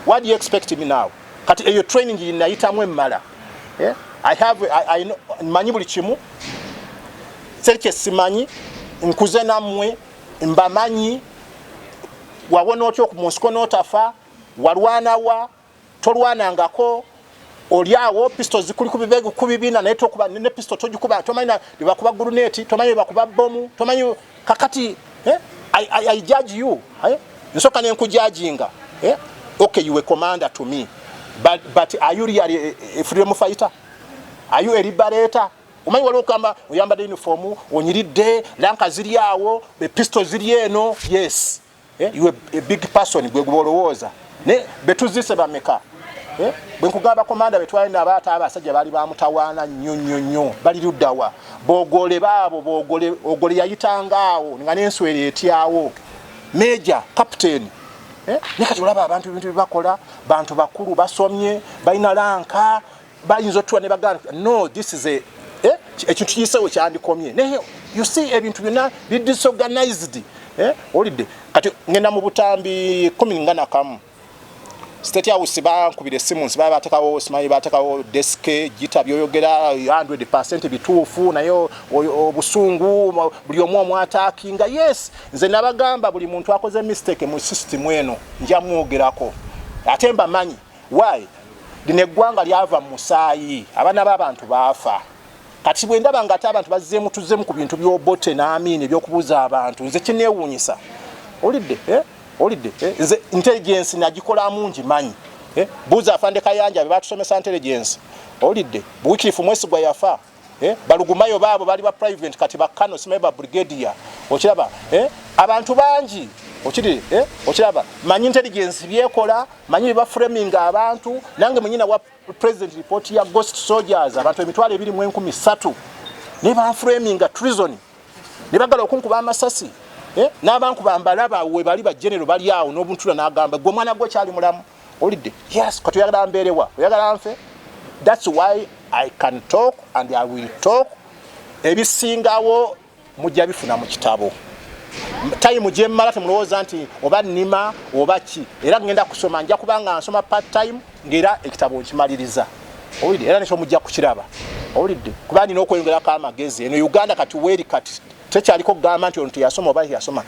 what do you expect me now kati eyo training yinayitamu emmala yeah? I have I, I know, manyi buli kimu serike simanyi nkuze namwe mbamanyi wawona otya okumunsi konotafa walwanawa tolwanangako oli awo pisto zikuli kubibegu kubibina naye tokuba ne pisto tojikuba tomanya bibakuba guruneti tomanya bibakuba bomu tomanya kakati eh? I, I, I judge you eh? nsoka nenkujajinga eh? okay you were commander to me but, but are you really a, a freedom fighter are you a liberator omanyi waliwo okugamba oyambadde uniform onyiridde lanka ziri awo pisto ziri eno yes eh, you a big person gwe gubolowoza ne betuzise bameka eh, bwe nkugamba komanda betwalina abaata abasajja bali bamutawaana nnyo nnyo nnyo bali luddawa bogole baabo bogole ogole yayitanga awo nga nenswera etyawo meja captain eh, ne kati olaba abantu ebintu byebakola bantu bakulu basomye balina lanka bayinza otuwa ne bagala no this is a eh, ekintu kiyisewo kyandikomye naye you see ebintu byonna bi disorganized eh, olidde kati ngenda mu butambi kumi nga nakamu state house bankubira esimu nsi baba batekawo simanyi batekawo deske gita byoyogera 100 bituufu naye obusungu buli omu omwataki nga yes nze nabagamba buli muntu akoze mistake mu system eno njamwogerako ate mbamanyi why lino eggwanga lyava mu musaayi abaana b'abantu baafa kati bwe ndaba ngaate abantu bazzeemu tuzzeemu ku bintu by'obote n'amiina ebyokubuuza abantu nze kineewuunyisa olidde eh? olidde eh? nze intelligensi nagikolamu ngi manyi eh? buuza afande kayanja be batusomesa intelligensi olidde buwikirifu mwesigwa yafa eh balugumayo baabo bali ba private kati bakano simaye ba brigadier okiraba eh abantu bangi okiri eh okiraba manyi intelligence byekola manyi ba framing abantu nange munyina wa president report ya ghost soldiers abantu emitwale ebiri mu enkumi satu ne ba framing a treason ne bagala okunkuba amasasi eh nabankuba mbalaba we bali ba general bali awo nobuntula nagamba gwe mwana gwe kyali mulamu Olidde? Yes, kati oyagala mbeerewa? Oyagala nfe? That's why I can talk and I will talk. Ebisingawo mujja bifuna mu kitabo. Time gye mmala temulowooza nti oba nnima oba ki era ngenda kusoma nja kuba nga nsoma part time ng'era ekitabo nkimaliriza. Owulidde era nekyo mujja kukiraba. Owulidde? Kuba nina okweyongerako amagezi. Eno Uganda kati weeri kati tekyaliko kugamba nti ono teyasoma oba yasoma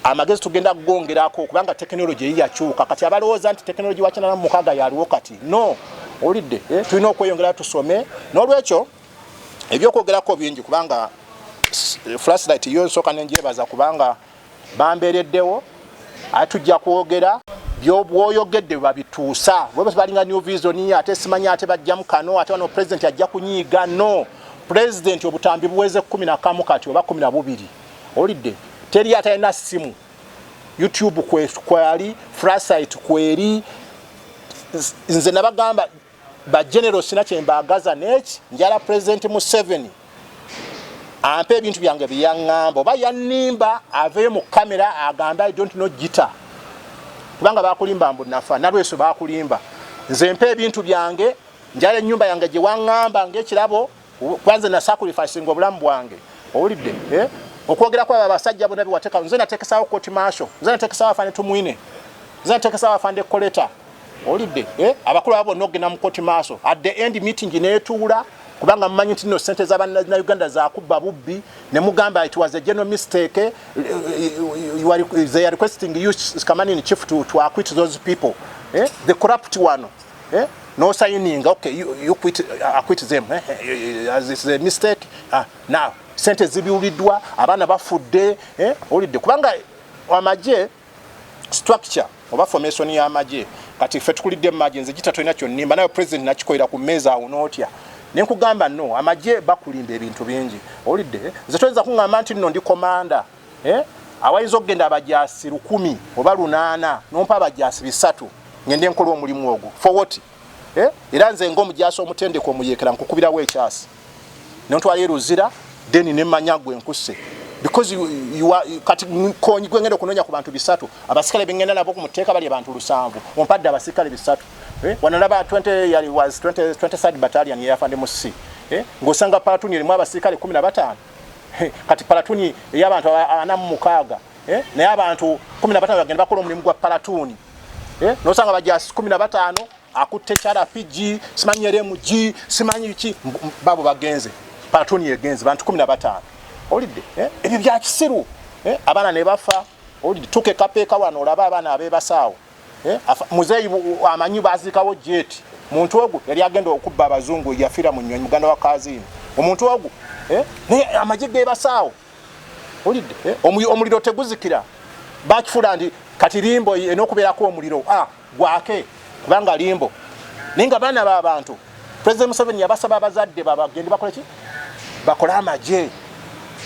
amagezi tugenda kugongerako kubanga tekinologi eyi yakyuka kati abalowooza nti tekinologi wakinana mumukaaga yaliwo kati no olidde eh, tulina okweyongera tusome n'olwekyo ebyokwogerako bingi kubanga eh, flashlight yo nsooka nenjebaza kubanga bambeereddewo ate tujja kwogera byobwoyogedde babituusa balinga new vision ate simanyi ate bajjamu kano ate wano pulezidenti ajja kunyiiga no pulezidenti obutambi buweze kumi nakamu kati oba kumi nabubiri olidde teri atalina simu youtube kwali frasite kweri nze nabagamba ba general sina kyembaagaza neki njala president museveni ampe ebintu byange byeyaŋŋamba oba yannimba aveyo mu kamera agambe i don't know gita kubanga bakulimba mbu nafa nalweso bakulimba nze mpa ebintu byange njala ennyumba yange gyewaŋŋamba ngaekirabo kwanze na sacrifice ngo bulamu bwange owulidde eh okwogera kwa basajja bona biwateka nze natekesawo koti masho nze natekesawo afande tumwine nze natekesawo afande koleta owulidde eh abakulu abo nogena mu koti masho at the end meeting netuula kubanga mmanyi nti no sente za banna na uganda zakubba bubbi ne mugamba it was a general mistake eh, eh, you are, they are requesting you come in chief to, to acquit those people eh? the corrupt one eh? no signing okay you, you quit, uh, I quit them eh? eh, eh as it's a mistake ah, now sente zibiwuliddwa abaana bafudde eh? olidde kubanga amagye structure oba formation ya amagye kati ffe tukulidde mu magye nze gita tolina kyonnimba nayo president nakikolera ku mmeeza awo nootya nenkugamba no amagye bakulimba ebintu bingi olidde nze toyinza kuŋamba nti nno ndi komanda eh? awayinza okugenda abajaasi lukumi oba lunaana nompa abajaasi bisatu ngende nkola omulimu ogwo fowoti eh? era nze nga omujaasi omutendeka omuyekera nkukubirawo ekyasi nontwala eruzira deni nemanya gwe nkuse because you, you are, kati konyi gwengenda okunonya ku bantu bisatu abasikale bengenda nabo ku muteeka bali abantu lusanvu ompadde abasikale bisatu eh? wanalaba 20 yali was 20, 23 battalion yeyafande mu c eh? ngosanga palatuni erimu abasikale kumi na bataano kati palatuni eyabantu ana mumukaaga eh? naye abantu kumi nabatano bagenda bakola omulimu gwa palatuni eh? nosanga bajasi kumi nabatano akutte carapg simanyi rmg simanyi ki babo bagenze palatuni egenze bantu kumi nabatano olidde eh? ebyo byakisiru abaana nebafa olidde tukekapeeka wano olaba abaana abebasaawo eh, muzeeyi amanyi baziikawo jeeti muntu ogu yali agenda okubba abazungu yafira mu nyonyi muganda wa kaziini omuntu ogu eh, naye amagye gebasaawo olidde eh, omuliro teguzikira bakifula nti kati limbo enokubeerako omuliro ah, gwake kubanga limbo naye nga baana babantu President Museveni yabasaba abazadde babagende bakole ki bakole amagye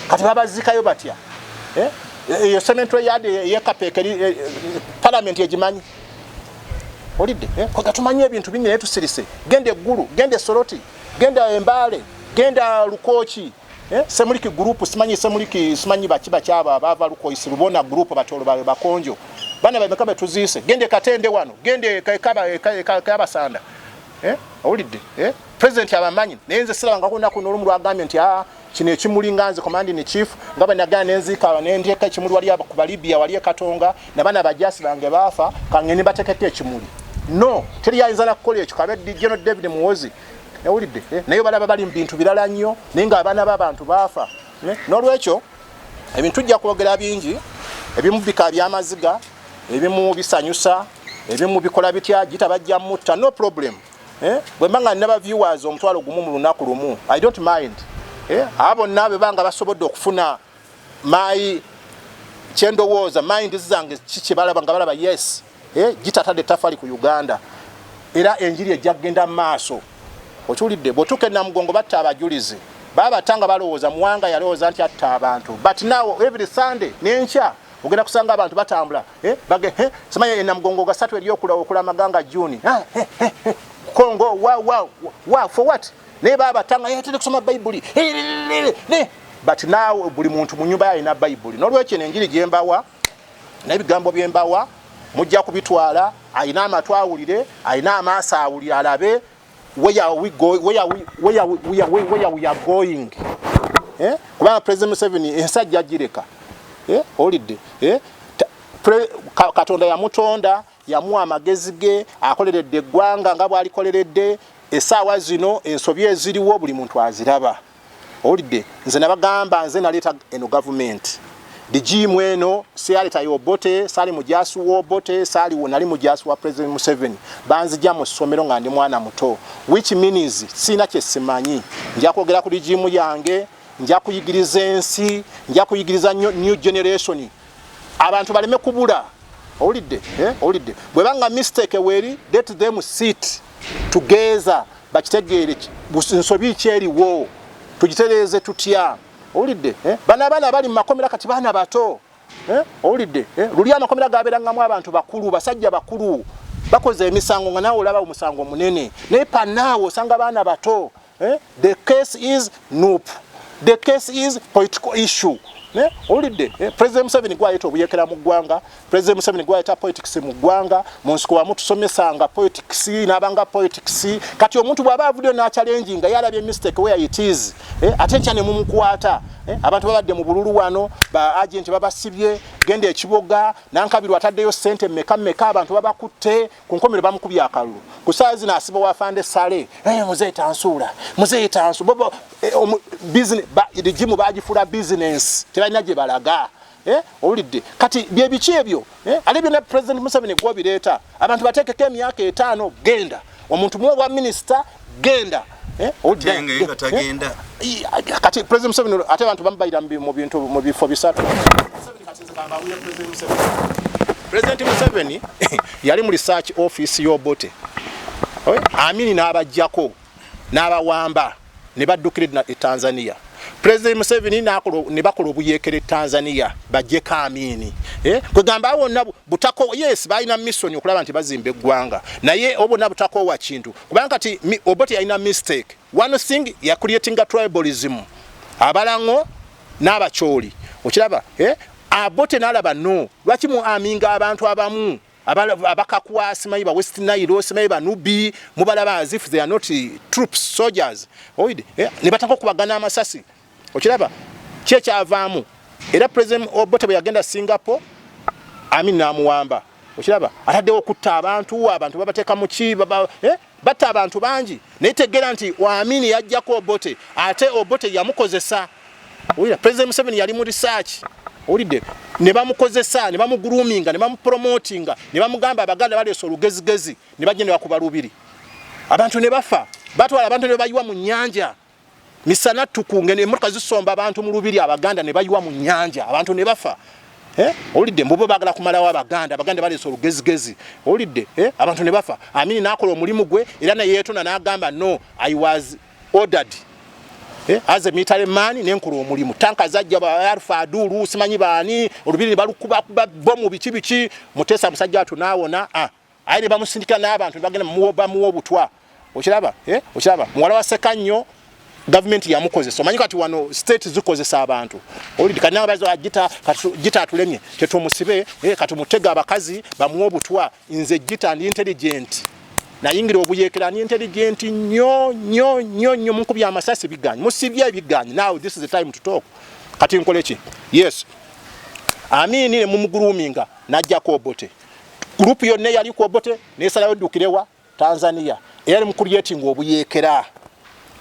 kati babazikayo batya eh? eyo eh, cementary yard eyekapeekeri eh, eh, parliament egimanyi olidde eh? kwega tumanyi ebintu bingi naye tusirise genda eggulu genda esoroti genda embaale genda lukooki Eh, semuliki group simanyi semuliki simanyi baki baki aba bava lukoisi lubona group batolo bawe bakonjo bana bawe mekabe tuziise gende katende wano gende kaba kaba sanda eh awulidde eh president abamanyi nenze sira ngako nako nolumu lwa gamye nti ah kino ekimuli nganze command ni chief ngaba nagana nenzi kaba nendye ka kimuli wali aba kuba libya wali katonga na bana bajasi bange bafa kangeni batekete ekimuli no teri yayinza nakukola ekyo kabe dijeno david muwozi yawulidde eh, naye balaba bali mu bintu birala nnyo naye nga abaana b'abantu baafa eh, n'olwekyo ebintu tujja kwogera bingi ebimu bika byamaziga ebimu bisanyusa ebimu bikola bitya gita bajja mutta no problem eh, bwe mba nga naba viewers omutwalo gumu mu lunaku lumu i don't mind abo bonna be banga basobodde okufuna my kyendowooza mind zange kiki balaba nga balaba yes eh, gitatadde tafali ku uganda era enjiri ejja kugenda mu maaso okiwulidde bwotuuka enamugongo batta abajulizi babata nga balowooza muwanga yalowooza nti atta abantu but now every sunday nenkya ogenda kusanga abantu batambula eh, bage eh, simanya enamugongo gasatu eri okulamaganga nga juni ah, kongo wa for what naye babata nga yatera kusoma bayibuli but now buli muntu mu nyumba yalina bayibuli nolwekyo enjiri gyembawa naye bigambo bye mbawa mujja kubitwala alina amatu awulire alina amaaso awulire alabe weyaweyagoing eh? kubanga president museveni ensajja gireka eh? olidde eh? katonda yamutonda yamuwa amagezi ge akoleredde eggwanga nga bwalikoleredde esaawa zino ensobi eziriwo buli muntu aziraba owulidde nze nabagamba nze naleeta eno gavumenti digiimu eno siyaleeta yobote saali mujaasi wobote saali nali mujaasi wa president museveni banzija mu ssomero nga ndi mwana muto which means siina kye simanyi nja kwogera ku digiimu yange nja kuyigiriza ensi nja kuyigiriza new generation abantu baleme kubula owulidde eh, owulidde bweba nga mistake weeri let them sit together bakitegeere nsobi ki eriwo tugitereeze tutya owulidde eh? bana abaana abali mu makomera kati baana bato eh? owulidde eh? luli amakomera gabeerangamu abantu bakulu basajja bakulu bakoze emisango nga naawe olaba omusango omunene naye panaawe osanga baana bato the case is nup the case is political issue owulidde president museveni gwayeta obuyekera mu ggwanga President Museveni gwayita politics mu ggwanga mu nsiko wamu tusomesanga politics n'abanga politics kati omuntu bw'aba avuddeyo n'acalengi nga yalabye mistake where it is eh, ate nkya ne mumukwata eh, abantu babadde mu bululu wano ba agenti babasibye genda ekiboga nankabirwa ataddeyo ssente mmeka mmeka abantu babakutte ku nkomero bamukubye akalulu ku saa zino asiba wafande sale eh, muzeeyi tansuula muzeeyi tansu bobo eh, rigimu bagifuula bizinensi tebalina gye balaga Eh, owulidde kati byebiki ebyo eh, ate byonna president museveni gwobireeta abantu bateekeko emyaka etaano genda omuntu muwe obwa minisita genda eh, kati president museveni ate abantu bamubayira mubintu mu bifo bisatu president museveni yali mu research office yobote amini n'abajjako n'abawamba ne baddukira e tanzania pulezidenti museveni ne bakola obuyeekera e tanzania bajjeko amiini eh, kwegamba wonna butako yes balina missoni okulaba nti bazimba eggwanga naye obona butakoowa kintu kubanga kati oboti yalina mistake one thing yacreatinga tribalism abalaŋo n'abacooli okiraba eh, abote nalaba no lwaki mu aminga abantu abamu abakakwa simanyi ba west nile simanyi banubi mubalaba as if they are not eh, troops soldiers oide eh, ne bataka okubagana amasasi okiraba kyekyavaamu era president obote bwe yagenda singapore amin namuwamba okiraba ataddewo okutta abantu abantu babateeka muki eh, Batta abantu bangi naye tegeera nti Waamini yajjako Obote ate Obote yamukozesa. Owulira President Museveni yali mu research. Owulidde ne bamukozesa ne bamuguluminga ne bamupromotinga ne bamugamba Abaganda baleese olugezigezi ne bajja ne bakuba Lubiri. Abantu ne bafa batwala abantu ne bayiwa mu nnyanja. misana tukunge nemotoka zisomba abantu mu lubiri abaganda ne bayiwa mu nyanja abantu ne bafa eh? olidde mbubo bagala kumalawo abaganda abaganda baleesa olugezigezi olidde eh? abantu ne bafa amini nakola omulimu gwe era neyetona nagamba no i was ordered Eh, as a military man nenkola omulimu tanka zajja baarfa aduulu simanyi baani olubiri ne balukubakuba bomu biki biki muteesa musajja watu naawona ah. aye ne bamusindika n'abantu ne bagenda bamuwa obutwa okiraba eh? okiraba muwala wa Ssekannyo gavumenti yamukozesa omanyi kati wano state zikozesa abantu olidi kati nawe bazo ajita ah, jita atulemye tetumusibe eh, kati mutega abakazi bamuwa obutwa nze jita ndi intelligent nayingira obuyekera ni intelligent nyo nyo nyo nyo mukubya amasasi biganyi musibye ebiganyi now this is the time to talk kati nkoleki yes amini ne mumuguluminga najja ko bote Group yonna eyali ku Obote nesalayo dukirewa Tanzania eyali mu creating obuyekera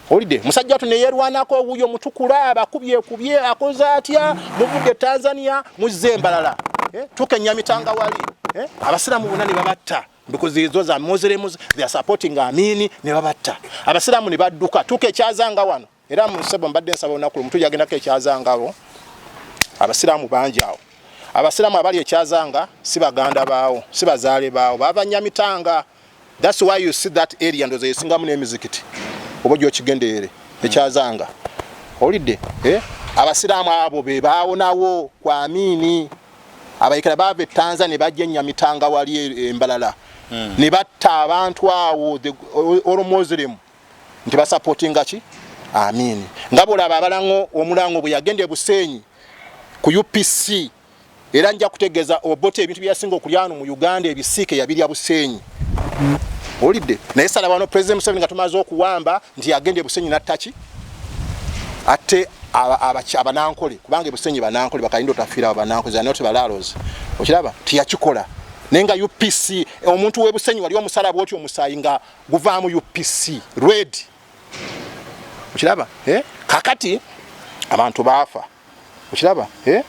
olide musajja watu neyerwanako owuyo mutukula abakubye kubye akoze atya muvudde Tanzania muzze embalala eh? tukenya mitanga wali eh? abasiramu bonna ne babatta because those are Muslims they are supporting Amini ne babatta abasiramu ne badduka tukekyazanga wano era mu nsebo mbadde nsaba olunaku lumu tujagendako ekyazanga abo abasiraamu bangi awo abasiraamu abali ekyazanga si baganda baawo si bazaale baawo baava nyamitanga thats why you see that area ndoza yesingamu n'emizikiti oba oja okigenderere ekyazanga owulidde eh? abasiraamu abo be baawonawo ku amiini abayekera baava etanza ne bajja enyamitanga wali e, embalala hmm. ne batta abantu awo olwo muslim nti basapotinga ki amiini nga bwolaba abalango omulango bwe yagenda ebuseenyi ku upc era nja kutegeeza obote ebintu byeyasinga okulyano mu uganda ebisiike yabirya buseenyi olidde naye salabano president museveni nga tumaze okuwamba nti yagenda ebusenyi nattaki ate abanankole kubanga ebusenyi banankole bakalinda otafiira abanankozi anot balaalozi okiraba tiyakikola naye nga upc omuntu webusenyi wali omusalaba oti omusaayi nga guvaamu upc red okiraba eh? kakati abantu baafa okiraba eh?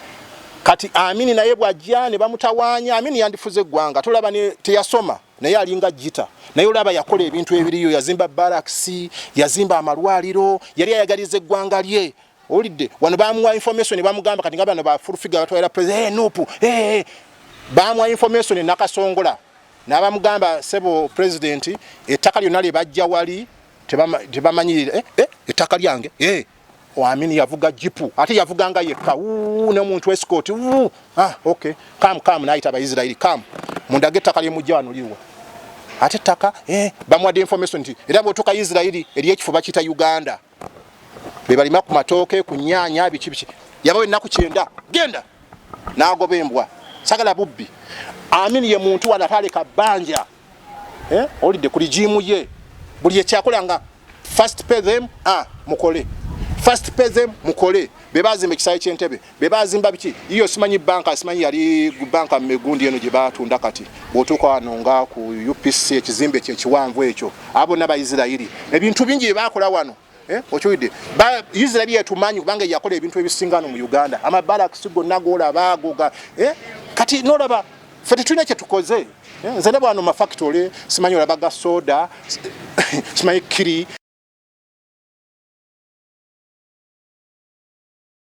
kati amini naye bwajja ne bamutawaanya amini yandifuze eggwanga tolaba teyasoma naye alinga jita naye olaba yakola ebintu ebiriyo yazimba barakisi yazimba amalwaliro yali ayagaliza eggwanga lye Owulidde wano bamuwa information bamugamba kati nga bano ba full figure batwalira president hey, eh, nupu eh, hey, eh, hey. bamuwa information nakasongola nabamugamba sebo president ettaka lyonna lye bajja wali tebamanyirira eh, eh, ettaka lyange eh. wamini yavuga jipu ate yavuganga yekka ne muntu escort ah, okay. kam kam nayita abaisirairi kam mundage ettaka lyemujja wano liwa ate ettaka eh, bamuwadde information nti era bwotuka isirairi eri ekifo bakiyita uganda bebalima ku matooke ku nyaanya biki biki yabawa ennaku kyenda genda nagoba embwa sagala bubbi amin ye muntu wano ataaleka bbanja eh? olidde ku ligiimu ye buli ekyakola nga first pay them ah, mukole first pay them mukole bebazimba ekisaawe kyentebe bebazimba biki iyo simanyi banka simanyi yali banka megundi eno gye batunda kati bwotuuka wano nga ku upc ekizimbe kyekiwanvu ekyo abo nabaisirairi ebintu bingi byebakola wano eh, okiwidde isirairi yetumanyi kubanga yakola ebintu ebisingano mu uganda amabalakisi gonna golaba agoga eh, kati nolaba fe tetulina kyetukoze eh, nze ne bwano mafactory simanyi olaba ga soda simanyi kiri